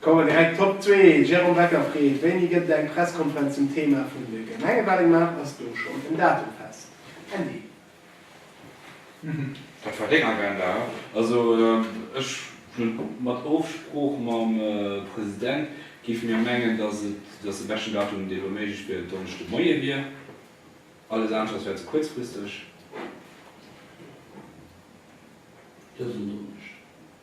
Kommen direkt d'Top zwee. Jérôme Becker freet, Wéini gëtt et eng Presskonferenz zum Thema vun de Gemengewalen? Gemaach? Ass do schonn en Datum fest? Andy. Dat war deng Agenda, he? Also ech hunn mat Ofsprooch mam President, géife mir mengen, datt de beschten Datum, dee lo méiglech wier, en Donneschde Moie wier. Alles anescht ass wär ze kuerzfristeg. Dësen Donneschde.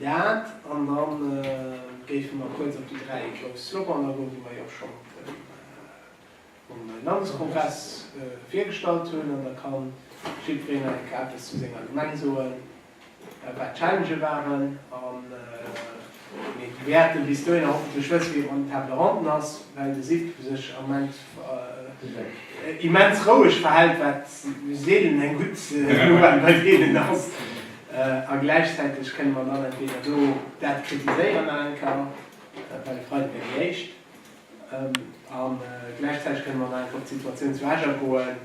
Dat an dann géife mer kuerz op déi dräi grouss Slogan agoen, déi mer jo schonn um Landeskongress virgestallt hunn. An da kann jiddwereen nach eng Kéier eppes zu senger Gemeng soen, wat d'Challengë waren. Mee mir wäerten bis dohinner hoffentlech wësse wien an den Tables Ronden ass, well de Sidd sech am Moment immens roueg verhält, wat seelen eng gutt Nouvelle bei deenen ass. A gläichzäiteg kënne mer dann entweder do dat kritiséieren nach eng Kéier, dat war e Freiden déi éischt, a gläichzäiteg kënne mer nach eng Kéier op d'Situatioun zu Esch agoen,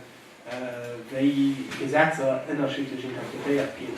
wéi Gesetzer ënnerschiddlech interpretéiert ginn.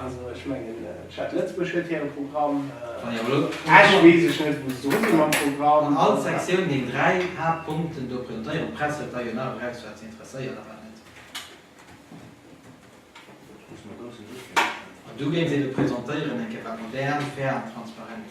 Also ech mengen d'Stad Lëtzebuerg huet hiren Programm, Esch weess ech net wou se dru sinn mam Programm. An all Sektioun deng 3 Haaptpunkten do presentéieren. D'Press huet da jo nach eraus wat se interesséiert a wat net. An du géings ee do presentéieren eng Kéier, wat modern, fair an transparent.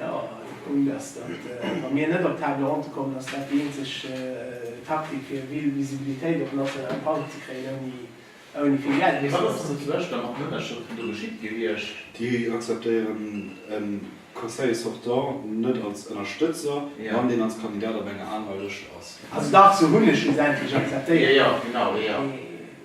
Jo, de Punkt ass, datt wa mir net op Table ronde kommen, ass dat déi eenzeg Taktik fir vill Visibilitéit op nationalem Plang ze kréien, ouni vill Geld mussen auszeginn. Mee wat ass dann zu Esch da mat den Ënnerschrëften do geschitt gewiescht? Déi akzeptéieren e Conseiller sortant net als Ënnerstëtzer, wann deen als Kandidat op enger anerer Lëscht ass. Also dach, se hunn e schlussendlech akzeptéiert. Jo, jo, genau, jo, jo.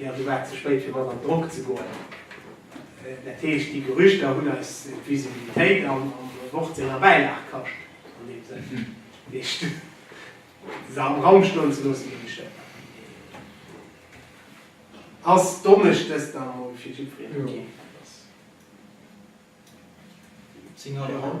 Jo, du waars ze spéit fir mat an Drock ze goen. Dat heescht, déi Gerüchter hunn eis d'Visibilitéit am Wort senger Bäilag kascht, an deem Sënn, dat heescht, se am Raum stoen ze loossen, ginn ech der Ass Donneschdes dann emol fir jiddwereen ok? Signalidung.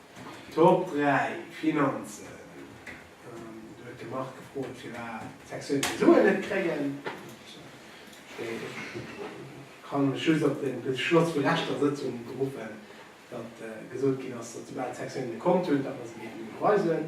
Top 3, Finanzen. Do huet de Marc gefrot, firwat d'Sektioune keng Suen net kréien. Ech kann lech just op de Beschloss vu leschter Sëtzung beruffen, datt gesot ginn ass, datt soubal d'Sektioune kont hunn, datt mer se géifen iwwerweisen.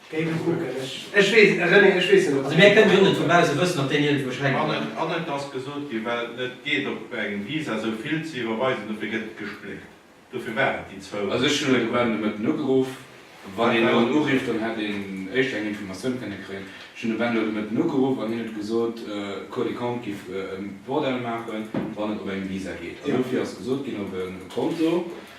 Géigefroe Ech weess net, ob ech déi Fro. Also mir kënnen jo net vun bausse wëssen, ob deen iergendwou schränkt oder net. An et ass gesot ginn, well et net geet op engem Visa esou vill ze iwwerweisen, dofir gëtt et gespléckt. Dofir waren et déi zwou. Also ech hunn elo de Ben de Mëtten ugeruff. Wann een elo en urifft, dann hätt een éischter eng Informatioun kënne kréien. Ech hunn de Ben elo de Mëtten ugeruff an hien huet gesot, d'Cour des Comptes giff e Bordell maachen, wann et op engem Visa geet. An dofir ass gesot ginn, op e Konto.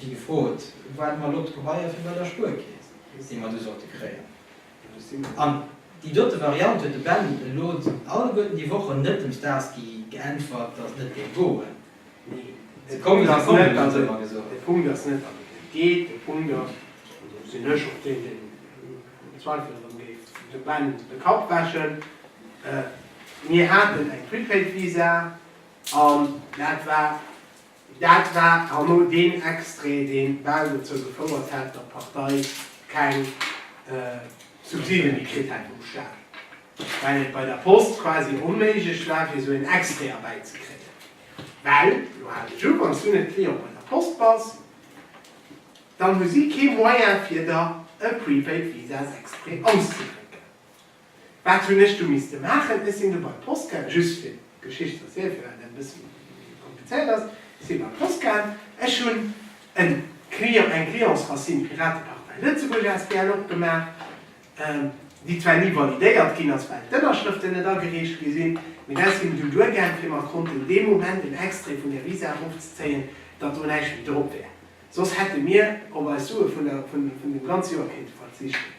Wéi gefrot, woart mer elo d'Gebaier fir bei der Spuerkeess, déi mer du sollte kréien. An déi dote Variant huet de Ben elo alleguerten déi Wochen net dem Starsky geäntwert, dass net géif goen. Nee, de Punkt ass net, dass et geet. De Punkt ass, an do sinn ech och deen, deen am Zweifel erëm géif dem Ben de Kapp wäschen, mir haten eng Prepaid-Visa an dat war Dat war herno deen Extrait, dee bal dozou gefouert hätt, datt d'Partei keng Subside méi kritt hätt vum Staat, well et bei der Post quasi onméiglech war, fir esou en Extrait erbäizekréien. Well, elo hale ech u, wann s du net Client bei der Post bass, dann hu si kee Moyen, fir der e Prepaid-Visas exprès auszedrécken. Wat hunn ech du misste maachen? Ech sinn du bei d'Post gaang, just fir d'Geschicht ze erzielen, fir wat dat e bëssen komplizéiert ass. Ech sinn bei d'Post gaang, ech hunn en Client, eng Clients Racine Piratepartei Lëtzebuerg asbl opgemaach, déi zwar ni validéiert ginn ass, well d'Ënnerschrëften net agereecht gi sinn, mee dat sinn du duergaang, fir mer konnten dee Moment en Extrait vun där Visa erofzezéien, datt do näischt méi drop wär, soss hätte mir op eis Sue vun dem ganze Joer kéinte verzichten.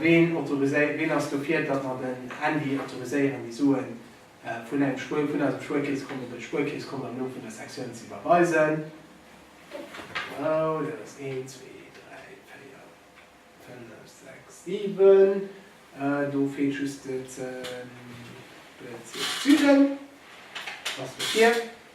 Ween autoriséiert, ween ass dofir, datt mer den Handy autoriséieren, déi Suen vun engem Spuer, vun eisem Spuerkeeskonto bei de Spuerkeeskonto am Numm vun der Sektioun ze iwwerweisen? Bravo, dat ass een, zwee, dräi, véier, fënnef, sechs, siwen. Do feelt just de Bezierk Süden. Ass dofir.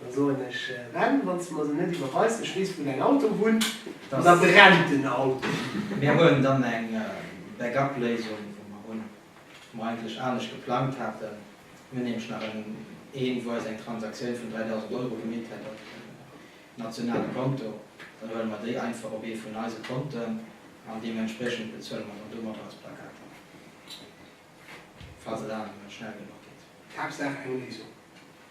Da soen ech, Ben, wann s de mer se net iwwerweis, ech weess wou däin Auto wunnt, an da brennt den Auto. Mir hunn dann eng Back-up-Léisung, wou mer hunn, wou mer eigentlech anescht geplangt haten. Mir hunn nämlech nach en, een, wou eis eng Transaktioun vun 3.000 Euro gemeet hätt op en nationale Konto. Dann huele mer déi einfach op ee vun eise Konten an deementspriechend bezuele mer dann domadder eis Plakater, falls et aner méi schnell genuch geet. D'Haaptsaach eng Léisung.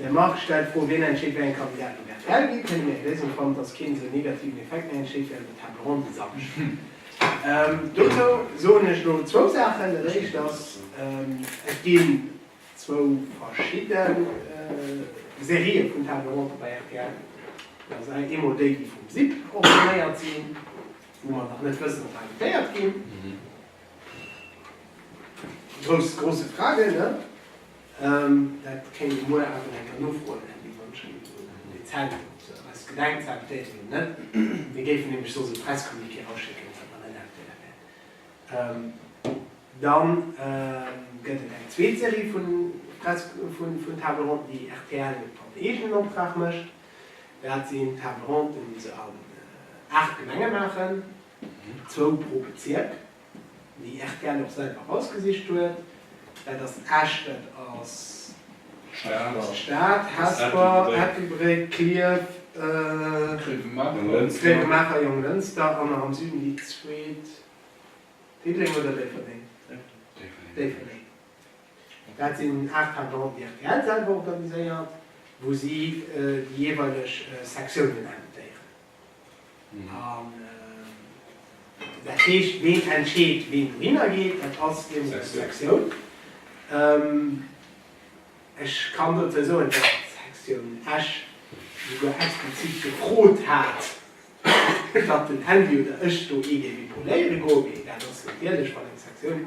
De Marc stellt d'Fro, Wien entscheet, wéi eng Kandidaten virtuell ginn? Kënne mir eng Léisung fannen, dass keen esou en negativen Effekt méi entsteet wéi an den Table Ronde de samschd? Dozou soen ech elo zwou Saachen. Dat éischt ass, Et ginn zwou verschidde Serië vun Table Rondë bei rtl. Dat ass eemol déi, déi vum SIP organiséiert sinn, wou mer nach net wëssen, ob se invitéiert ginn. Grouss, grosse Frage, ne? Dat kéint ee muer awer enker nofroen, Här Di, wann schonn un déi Zäit eis gedenkt ze updaten, ne? Mir géifen nämlech soss e Presscommuniqué erausschicken, wann der net aktuell wäert. Dann gëtt et eng zweet Serie vun Press, vun, vun Table ronden, déi rtl op eegenen Optrag mécht. Dat sinn Table ronden, déi se an 8 Gemenge maachen. Zwou pro Bezierk, déi rtl och selwer erausgesicht huet. Dat ass Esch, dat ass d'Stad, Hesper, Ettelbréck, Klierf, Gréiwemaacher, Jonglënster an nach am Süden déi zweet, Diddeleng oder Déifferdeng? Déifferdeng. Dat sinn aacht Tables rondes, déi rtl selwer organiséiert, wou si déi jeeweileg Sektiounen invitéieren. Dat heescht, ween entscheet, ween dohinner geet? Dat ass eben eng Sektioun. Ech kann dozou soen, datt d'Sektioun Esch souguer explizit gefrot hat, datt den Andy oder ech do ee géif epauléiere goen. Mee dat ass natierlech, wann eng Sektioun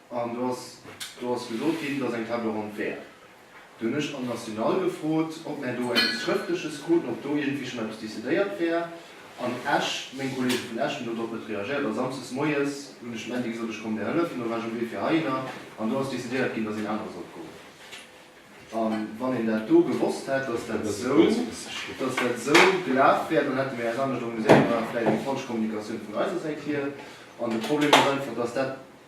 An do ass, do ass gesot ginn, dass eng Table ronde wär. Do hunn ech an National gefrot, ob mär do eppes Schrëftleches kruten, ob do iergendwéi schonn eppes decidéiert wär. An Esch, meng Kollege vun Esch hunn do drop net reagéiert. A samsdes moies hunn ech dem Andy gesot, ech komm dir hëllefen. Do war ech um Wee fir heihinner an do ass decidéiert ginn, dass een anere sollt goen. A wann een dat do gewosst hätt, dass dat esou, dass dat esou gelaf wär, dann hätte mir äis anescht organiséiert. Dat war vläicht eng falsch Kommunikatioun vun eiser Säit hier. An de Problem ass einfach, dass dat,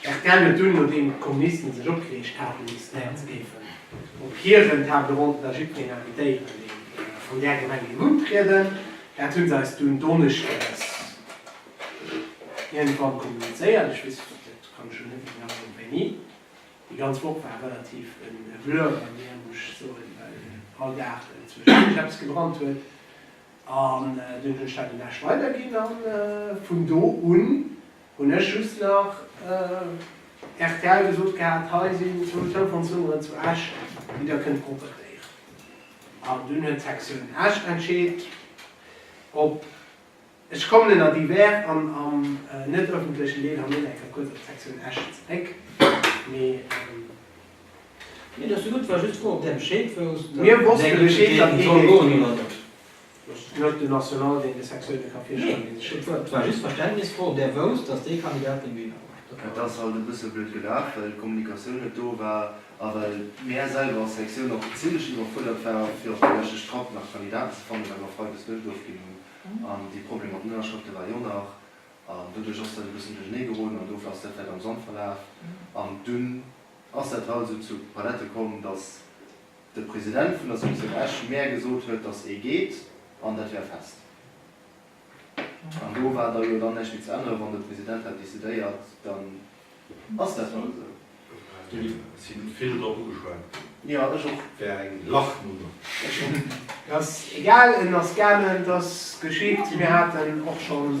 Rtl huet dunn, nodeem d'Kommunisten sech opgereegt haten, decidéiert se géifen op hiren Table ronde da jiddwereen invitéieren, deen vun där Gemeng géing untrieden. Dat hu se eis dunn donneschdes iergendwann kommunizéiert, ech weess et kann ech elo net méi genau soen wéini. Déi ganz Woch war relativ e Blur bei mir, muss ech soen, well all Dag zwëschendurch eppes gebrannt huet. An dunn hunn ech dat um Desch weiderginn, an vun do un, Hunn ech just nach rtl gesot gehat, hei sinn zwou Telefonnummeren zu Esch, déi der kënnt propetéieren. An dunn huet d'Sektioun Esch entscheet, ob ech kommen ënner divers an am net ëffentlechen Deel an net eng Kéier kuerz op d'Sektioun Esch zeréck. Mee. Mir wosste Bescheed, datt ee géif. Loterie nationale deen dee Sexuelle ka virschloen, dee sech schonn huet. Et war just d'Verständnisfro, ob där wousst, datt dee Kandidat dee Gewinner war. Et ass halt e bësse blöd gelaf, well d'Kommunikatioun net do war a well mär selwer als Sektioun och zimlech iwwerfuerdert waren, fir op déi leschte Strapp nach Kandidaten ze fannen, well mer freides net ofginn hunn. An dee Problem mat den Ënnerschrëfte war jo nach. An doduerch ass dat e bëssen duerchernee geroden an dofir ass dat vläicht am Sand verlaf. An dunn ass dat halt esou zu Palette komm, datt. de President vun der Sektioun Esch mär gesot huet, datt ee geet an dat wär fest. An do war da jo dann näischt méi ze änneren. Wann de President dat decidéiert, dann ass dat hei esou. Do si vill drop ugeschwat ginn. Jo, ech och. Wär eng Lachnummer. Ech och. Egal, en ass gaangen, et ass geschitt. Mir haten och schonn.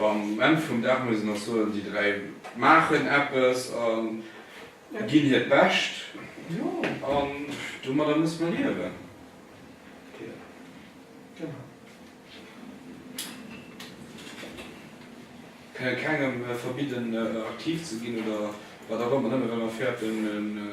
Am Enn vum Dag muss een och soen, déi dräi maachen eppes a ginn hiert Bescht an domadder muss mer liewen. Mir kënnen kengem verbidden aktiv ze ginn oder wat och ëmmer, nëmme well mer fäerten.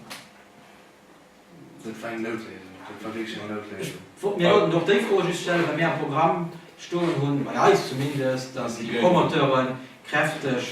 Dat war eng Noutléisung. Dat war wierklech eng Noutléisung. Ech wollt mir haut och déi Fro just stellen, well mir am Programm stoen hunn, bei eis zumindest, dass déi Promoteure kräfteg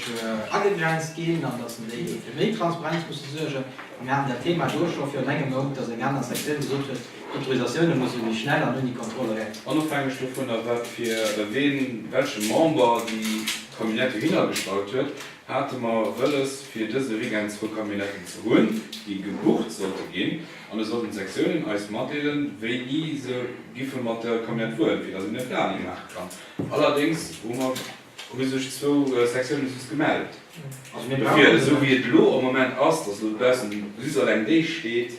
agegrenzt ginn an dass déi fir méi Transparenz musse suergen. A mir haten dat Thema do scho virun engem Mount, dass eng aner Sektioun gesot huet, d'Autorisatioune musse méi schnell an ouni Kontroll eran. Onofhängeg dovunner, wat fir ween, wéi welche Member déi Camionnette dohinner gestallt huet, Hate mer wëlles fir dëse Weekend zwou Camionnetën ze hunn, déi gebucht sollte ginn, an et sollten d'Sektiounen eis matdeelen, wéini se giffe mat der Camionnette fueren, fir datt een e Planning maache kann. Allerdéngs hu mer, hu sech zwou Sektiounen soss gemellt. Dofir, esou wéi et elo am Moment ass, datt elo dobaussen just eleng déi steet,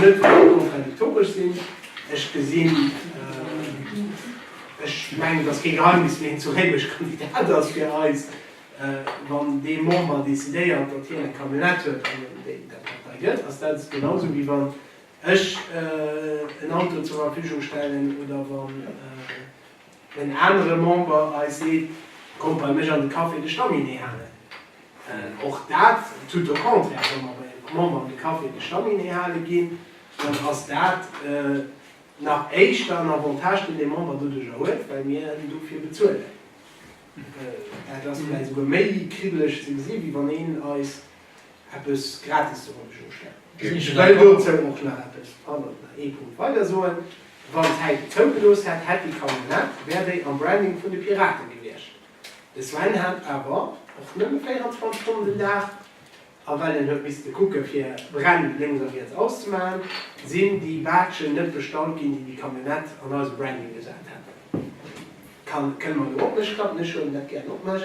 net kontradiktoresch sinn. Ech gesinn, ech mengen, et ass kee Geheimnis, wien zu Réimech Kandidat ass fir eis. Wann dee Member decidéiert, datt hien eng Camionnette huet an en Deel der Partei gëtt, ass dat genau esou, wéi wann ech en Auto zur Verfügung stellen oder wann, En anere Member hei seet, Kommt bei mech an de Café de Staminee halen. Och dat, tout au contraire, wa mer bei engem Member an de Café de Staminee hale ginn, dann ass dat nach éischter en Avantage, deen dee Member doduerjer huet, well mir en dofir bezuelen. Dat ass vläicht esouguer méi kribbelech ze gesi wéi wann een eis eppes gratis ze wollen ech uschwätzen. Ech wëll dozou och nach eppes, pardon, nach ee Punkt weider soen, Wann d'Zäit et zougelooss hätt, hätt déi Camionnette, wär déi am Branding vun de Piraten gewiescht. De Sven hat awer och nëmme 24 Stonnen den Dag, a well en huet misste kucke fir Bränn lénks a riets auszemaachen, sinn déi Badgen net bestallt ginn, déi déi Camionnette an eise Branding gesat hätten. Kënne mer do op mech klappen? Ech huelen dat gären op mech.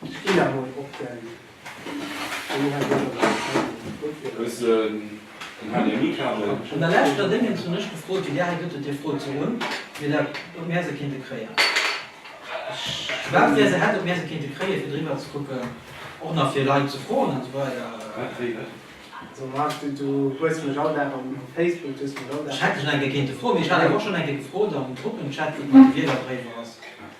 Ech ginn emol op den HDMI-Kabel. An der leschter Déngens hunn ech gefrot, wéi Dir hei gëtt et déi Fro zu hunn, wéi dat, ob mär se kéinte kréien. Ech, wat mär se hätten, ob mär se kéinte kréien, fir driwwer ze kucken, och nach fir Leit ze froen an esou weider. Wat? Wéi? Wat? Also Marc, du, du hues mech all Dag am, op Facebook, du hues mech all Dag. Ech hätt dech nach eng Kéier kéinte froen, mee ech hat awer och schonn eng Kéier gefrot am Gruppenchat, wéi et mat de Wielerbréiwer ass.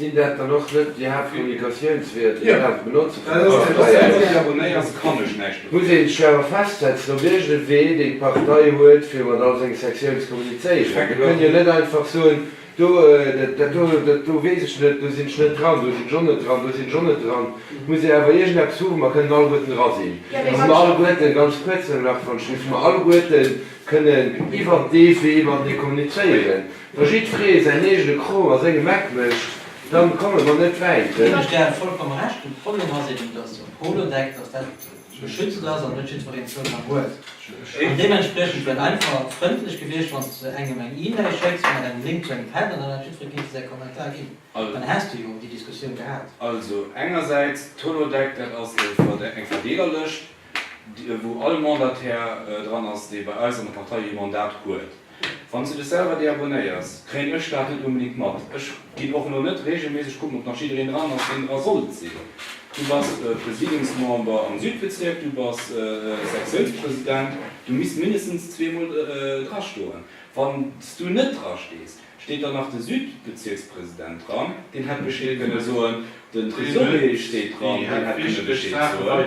Sinn dat dann och net déi Haaptkommunikatiounsweeër, déi een daf benotzen fir d'Partei? Muss ee sech awer festsetzen op iergendee Wee, deen d'Partei huet, fir mat all senge Sectioune ze kommunizéieren. Mir kënnen jo net einfach soen, do, dat do, dat do weess ech net, do sinn ech net dran, do sinn ech och net dran, do sinn ech och net dran. Et muss ee awer iergendeppes hu wou mer kënnen alleguerten dra sinn a wou mer alleguerten, ganz kuerz nëmme nach, Frau Schmit, wou mer alleguerte kënnen iwwert dee Wee matenee kommunizéieren. Wa jiddferee säin eegene Krong a sengem Eck mécht, da komme mer net wäit. Ech ginn awer vollkomm Recht, den Problem ass eben, dass op Holodeck, dass dat geschützt ass an net jiddfereen Zougang huet. An deementspriechend wäert einfach frëndlech gewiescht, wann s de engem eng E-Mail schécks mat engem Link zu engem Pad an dann hätt jiddferee kéinte säi Kommentar ginn. Dann häss de jo déi Diskussioun gehat. Also engersäits d'Holodeck, dat ass eng Verdeelerlëscht, wou all Mandataire dran ass, dee bei eis an der Partei ee Mandat huet. Wanns de dech selwer deabonnéiers kréien ech dat net unbedingt mat. Ech gin och lo net regelméisseg kucken ob nach jiddereen dran ass deen dra sollt sin. Du bass Presidiumsmember am Südbezierk, du bass Sektiounspresident, du misst mindestens zwee mol dra stoen. Wanns du net dra stees, steet dann nach de Südbezierkspresident dran, deen hätt Bescheed kënne soen, den Tresorier steet dran, deen hätt kënne Bescheed soen,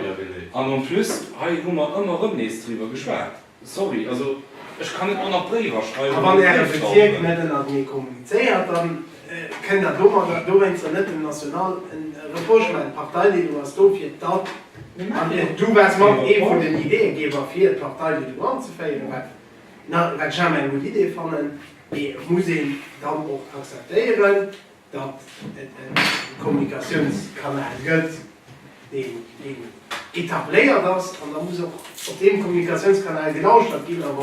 an en plus hei hu mer ëmmer rëm nees driwwer geschwat. Sorry, also ech kann net manner d'Bréiwer schreiwen. A wann Äre Bezierk net ënnertenee kommunizéiert, da kënnt Der domadder dowéinster net dem National en Reprochement. D'Parteileedung ass do fir d'App. An Du waars mat ee vun den Ideeëgeber fir d'Parteileedung anzeféieren, wat wat ech awer eng gutt Idee fannen. Mee et muss een dann och akzeptéieren, datt et e Kommunikatiounskanal gëtt, deen etabléiert ass, an da muss och op deem Kommunikatiounskanal gelauschtert ginn. A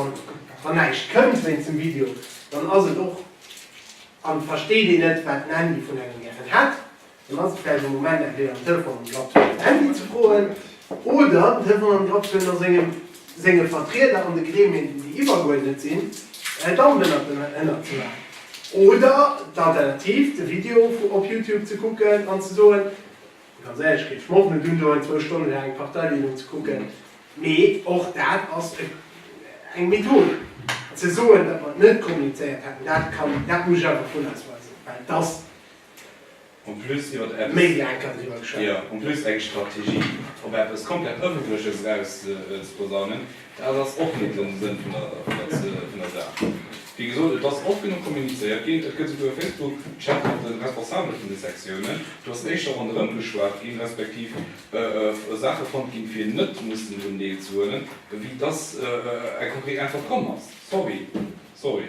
wann näischt kënnt wéinst dem Video, dann ass et och, a versteet een net, wat den Handy vun engem gären hätt, dann ass et vläicht e Moment entweder den Telefon an den Grapp ze huelen, den Handy ze froen oder den Telefon an den Grapp ze huelen a sengem. senge Vertrieder an de Gremien, déi déi iwwergeuerdnet sinn, en Damm dënner den Hënner ze maachen. Oder d'Alternativ, de Video op Youtube ze kucken an ze soen, ganz éierlech, kritt ech Mof net un, do eng zwou Stonne laang eng Parteideelung ze kucken. Mee och dat ass eng Method. Ze soen, datt mer net kommunizéiert hätten, dat kann, dat muss ech einfach vun eis weisen, well dass. En plus iwwert eppes. Méi wéi eng Kéier driwwer geschwat. Jo, en plus eng Strategie op eppes komplett Ëffentleches eraus ze posaunen, dat ass och net den Sënn vun der Saach. Wéi gesot, et ass oft genuch kommunizéiert ginn. Et gëtt souguer e Facebook-Chat mat de Responsabele vun de Sektiounen. Do ass éischter ronderëm geschwat ginn, respektiv Saache fonnt ginn, fir net mussen drun deelzehuelen, ewéi dass eng konkret Äntwert komm ass. Sorry. Sorry.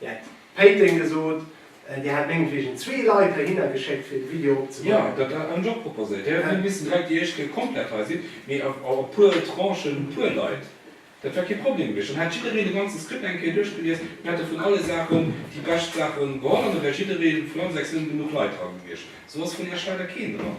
Dir hätt Péiteng gesot. Dir hat mengetwegen zwee Leit heihinner geschéckt, fir de Video opzebauen. Jo, dat hat ech och proposéiert. Dir hätt net missen direkt déi éischt Kéier komplett hei sinn, mee a puer Tranchen, e puer Leit. Dat wär kee Problem gewiescht. Dann hätt jiddereen de ganze Skript eng Kéier duerchgelies, mir hätte vun alle Saachen déi bescht Saache geholl an da wär jidderee vun eis sechs Lënn genuch Leit dra gewiescht. Esou ass vun Iech leider keen dran.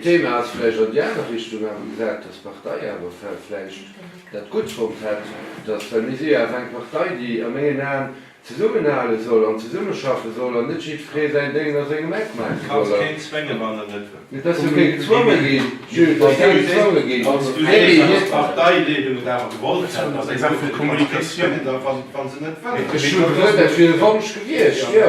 D'Thema ass vläicht an déi aner Richtung awer gesat, datt d'Partei awer vläicht dat gutt fonnt hätt, datt, well mir si jo awer eng Partei, déi a mengen Aen zesummenhale soll an zesummeschaffe soll an net jiddweree säin Déngel a sengem Eck maache soll a. Mee et ass jo kee gezwonge ginn, Jules, et ass kee gezwonge ginn. Ech hunn gefrot, dat wier e Wonsch gewiescht, jo.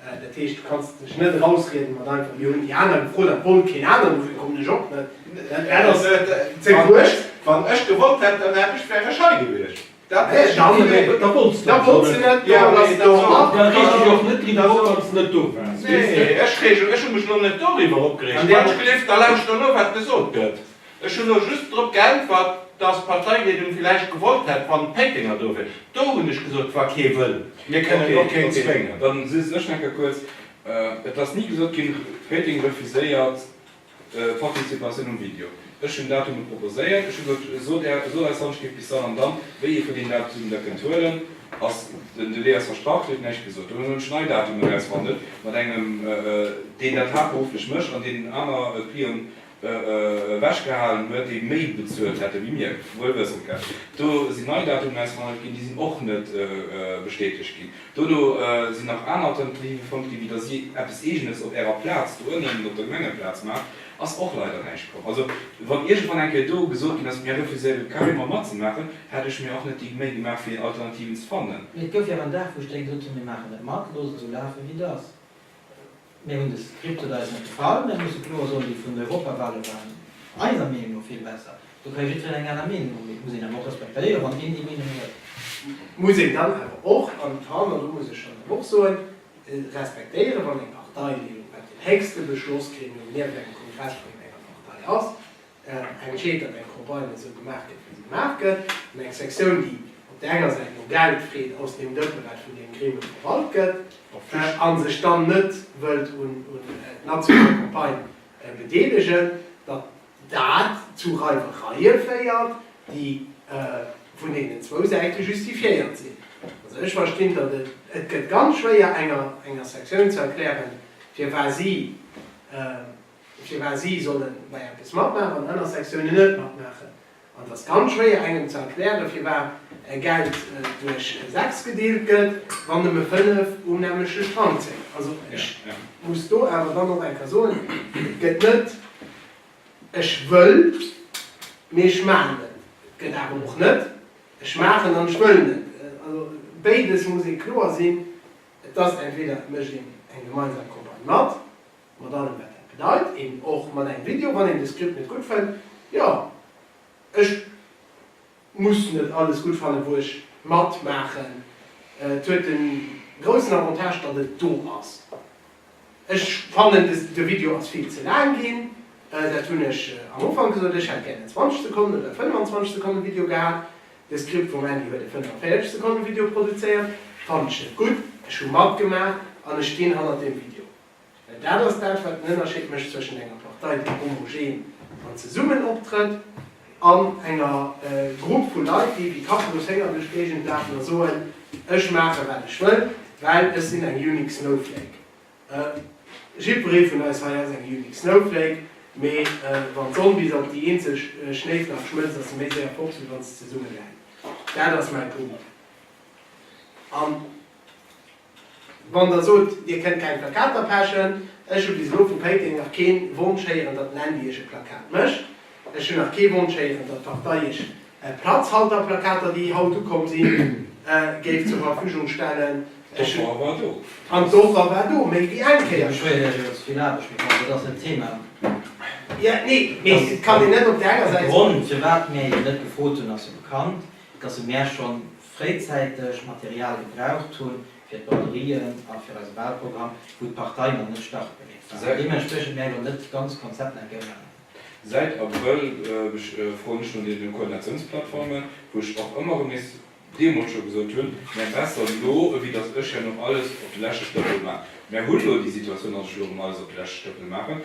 Dat heescht, du kanns dech net erausrieden mat einfach jo hunn déi aner gefrot, dat wollt keen aneren, dofir kommen ech och net. Dat ass ze wuecht. Wann ech gewollt hätt, dann hätt ech, wär ech hei gewiescht. Dat wär ech awer net. Da wollts du net. Jo, da reeg dech och net driwwer op, wann s net do waars. Nee, ech hu mech elo net doriwwer opgereegt. Wann ech gelift, da lauschter elo, wat gesot gëtt. Ech hunn elo just drop geäntwert, dass d'Parteileedung villäicht gewollt hätt, wann d'Péitenger do wier. Do hunn ech gesot, wa kee wëll, mir kënnen och keen zwéngen. Okay, dann si ech necker kuerz. Et ass ni gesot ginn, Péiteng refuséiert d'Participatioun um Video. Ech hunn Datume proposéiert. Ech hu gesot, sot Är, sot eis Handschrift bis dann an dann, wéi Dir vun deenen Datumen der kënnt huelen. Ass den Delai ass verstrach, Dir hutt näischt gesot. Dunn hunn ech nei Datumen erausverhandelt mat engem, deen dat haaptberufflech mécht an deen aner Clientë ewech gehalen huet, déi méi bezuelt hätte wéi mir, wuel wëssend dat do si nei Datumen ausgehandelt ginn, déi sinn och net bestätegt ginn. Dono sinn nach aner Alternative fonnt ginn, wéi datt si eppes Eegenes op Ärer Plaz do ënnen op der Gemengeplaz maacht, ass och leider näischt komm. Also wann iergendwann eng Kéier do gesot ginn ass, mir refuséiere carrément matzemaachen, hätt ech mir och net déi Méi gemaach fir Alternativen ze fannen. Mee et gouf jo awer en Dag wou ech denkt hunn, mir maachen net mat, loosse sou lafe wéi et ass. Mir hunn de Scriptet eis net gefall, mä musse kloer soen, déi vun den Europawahlen waren eiser Meenung no vill besser. Do ka jiddwereen eng aner Meenung hunn, mee et muss een awer och respektéieren, wann een déi Meenung huet. Muss een dann awer och, an Tan, an do muss ech dann awer och soen, respektéieren, wann eng Partei, déi elo grad den héchste Beschlossgremium nieft engem Kongress vun enger Partei ass, eng Quête an eng Campagne esou gemaach gëtt, wéi se gemaach gëtt, an eng Sektioun, déi op där enger Säit no Geld freet aus deem Dëppe, wat vun deem Gremium verwalt gëtt, a sech dann net wëllt un nationale Campagnë bedeelegen, datt dat zu Reiwereie féiert, déi vun deenen zwou Säite justifiéiert sinn. Also ech verstinn, datt et, et gëtt ganz schwéier enger Sektioun ze erklären, firwat si, firwat si solle bei eppes matmaachen an aner Sektiounen net matmaachen. An et ass ganz schwéier engem ze erklären, firwat Geld duerch 6 gedeelt gëtt, wann nëmme 5 um nämmlechte Strang zéien. Also ech muss do awer dann och eng Kéier soen, et gëtt net ech wëll, mee ech maachen et. Et gëtt awer och net ech maachen an ech wëllen et. Also béides muss ee kloer sinn. Et ass entweder et mécht een eng gemeinsam Campagne mat. mat allem wat dat bedeit, een och mat engem Video, wann een de Script net gutt fënnt, jo ech muss net alles gutt fannen wou ech mat maachen, et huet de groussen Avantage datt et do ass. Ech fannen de Video ass vill ze laang ginn, dat hunn ech am Ufank gesot, ech hätt gären en 20 Sekonnen oder e 25 Sekonnen Video gehat, de Script vum Andy huet e 45 Sekonnen Video produzéiert, fannen ech net gutt, ech hu matgemaach an ech stinn hannert deem Video. Well dat ass dat, wat den Ënnerscheed mécht zwëschen enger Partei, déi homogen an zesummen optrëtt, an enger Grupp vu Leit, déi wéi Kappeloshénger duerch d'Géigend lafen a soen, Ech maache wat ech wëll, well ech sinn eng unique snowflake. Jiddweree vun eis hei ass eng unique snowflake, mee wann d'Sonn bis op déi eenzeg Schnéiflak schmëlzt, ass se méi séier fort, wéi wann se zesummeläit. Dat ass mäi Punkt. Wann der sot, dir kënnt keng Plakater pechen, ech hu bis elo vu Péiteng nach kee Wonsch héieren, datt den Andy iech e Plakat mécht. Ech hunn nach kee Wonsch héieren, datt d'Partei iech Platzhalterplakater, déi haut ukomm sinn, géif zur Verfügung stellen. D'Offer war do. An d'Offer war do, méi wéi eng Kéier. Dir beschwéiert iech iwwer ze vill Aarbecht, mee bon, dat ass en Thema. Jo, nee, mee et kann een net op där enger Säit soen. De Grond, firwat mir jo net gefrot hunn, ass jo bekannt, datt e mär schonn fréizäiteg Material gebraucht hunn fir d'Braderien a fir eise Walprogramm, wou d'Partei nach net startbereet war. An deementspriechend mär elo net d'ganz Konzept nach eng Kéier ënnerhalen. Säit Abrëll froen ech no deene Koordinatiounsplattformen, wou ech och ëmmer erëm nees deemools scho gesot hunn, mär besser elo, ewéi datt ech herno alles op de leschte Stëppel maachen. Mär hunn elo déi Situatioun, datt ech elo erëm alles op de leschte Stëppel maachen.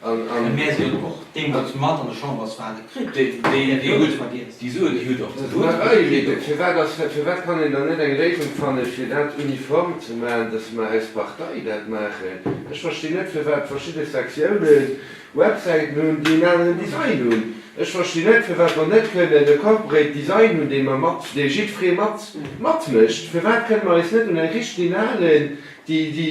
An mär si jo och deemools mat an der Chamber zwar net kritt, déi gutt Verdienst. Déi Suen, déi hutt och ze soen. Mä oui, mee fir wat ass, fir wat kann een dann net eng Léisung fannen, fir dat uniform ze maachen, dass mer aus Partei dat maachen? Ech verstinn net, fir wat verschidde Sektiounen Websäiten hunn, déi en aneren Design hunn. Ech verstinn net, fir wat mer net kënnen e Corporate Design hunn, dee mer mat, dee jiddweree mat, matmécht. Fir wat kënne mer eis net un eng richtlinalen, déi, déi.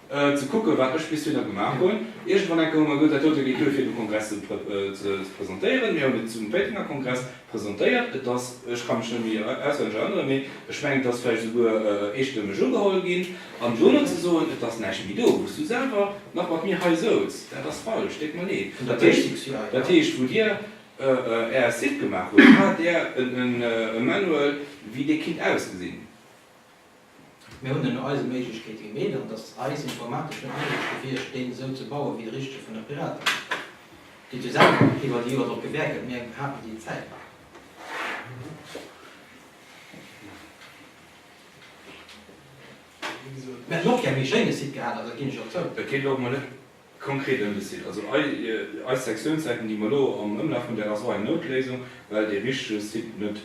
Ze kucken, wat ech bis dohinner gemaach hunn. Iergendwann enke hu mer gesot, dat dote geet duer, fir de Kongress ze presentéieren. Mir hunn et zum Péitenger Kongress presentéiert. Et ass, ech ka mech net méi auswenneg erënneren, mee ech mengen, et ass vläicht esouguer eestëmmeg ugeholl ginn. An dono ze soen, et ass näischt méi do, wou s du selwer nach mat mir hei souz, dat ass falsch. Déck mer nee. Dat heescht, wou Dir Är Site gemaach hutt, hat Där e Manual, wéi dee kinnt ausgesinn? Mir hunn ënner eise Méiglechkeete gemeet, an et ass eis informatesch net méiglech gewiescht, deen esou ze baue wéi de richtege vun der Piratepartei, déi jo selwer iwwer déi Joer drop gewäert huet. Mir haten déi Zäit net. Mir hätten och gär méi schéine Site gehat, dat ginn ech och zou. Konkret ëm de Site, also eis Sektiounssäiten, déi mer elo am Ëmlaf hunn, dat ass och eng Noutléisung, well dee richtege Site net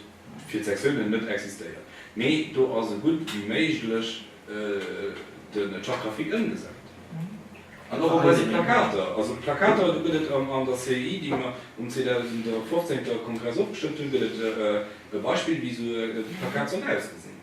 fir d'Sektiounen net existéiert, mee do ass sou gutt wéi méiglech de Charte graphique ëmgesat. An och op eise Plakater, also d'Plakater, do gëtt et an der CEI, déi mer um 2015. Kongress ofgestëmmt hunn, gëtt et e Beispill, wéi esou e Plakat sollt ausgesinn.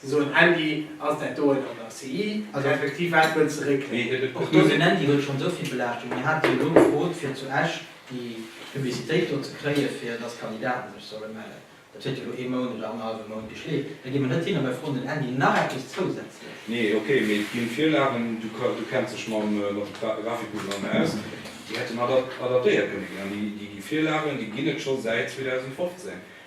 Se soen Handy, ass dat doen an der CI effektiv? Wat wëlls de réckelen? Och do sinn Handy huet schonn esou vill Belaaschtung. Mir haten jo elo gefrot fir zu Esch déi Publicitéit do ze kréie fir datt Kandidaten sech solle mellen. Dat huet jo elo ee Mount oder annerhallwe Mount geschleeft. Da gi mer net hin a mer froen den Handy nach eppes zousätzlech. Nee, ok, mee et ginn Virlagen, du kenns dech mam Grafikum dann aus, déi hätten adaptéiert kënne ginn. An déi Virlagen déi ginn et scho säit 2015.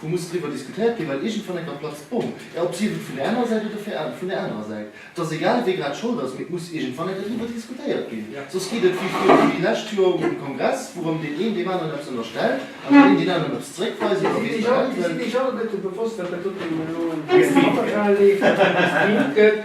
Do muss driwwer diskutéiert ginn, well iergendwann eng Plaz d'Bom. Ob si vun där anerer Säit oder vun där anerer Säit, et ass egal, wee grad Schold ass, mee et muss iergendwann enker driwwer diskutéiert ginn. Soss geet et wéi fréier, wéi d'lescht Joer um Kongress, wourëm deen een deem aneren eppes ënnerstellt an deen een deen aneren eppes zréckweist oder weess der Hell wéi.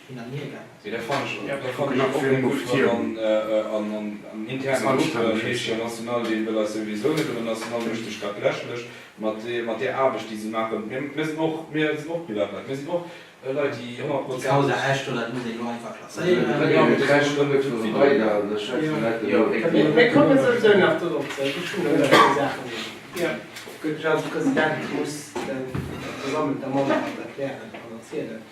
Ech fand jo dat och eng gudd Fro an en internen Gruppen, et heescht jo an national deen wëll eis souwisou net, an en national mécht sech grad lächerlech mat deer Aarbecht déi si maachen. Mir sinn och Privatleid, mir sinn och Leit déi 100 Prozent.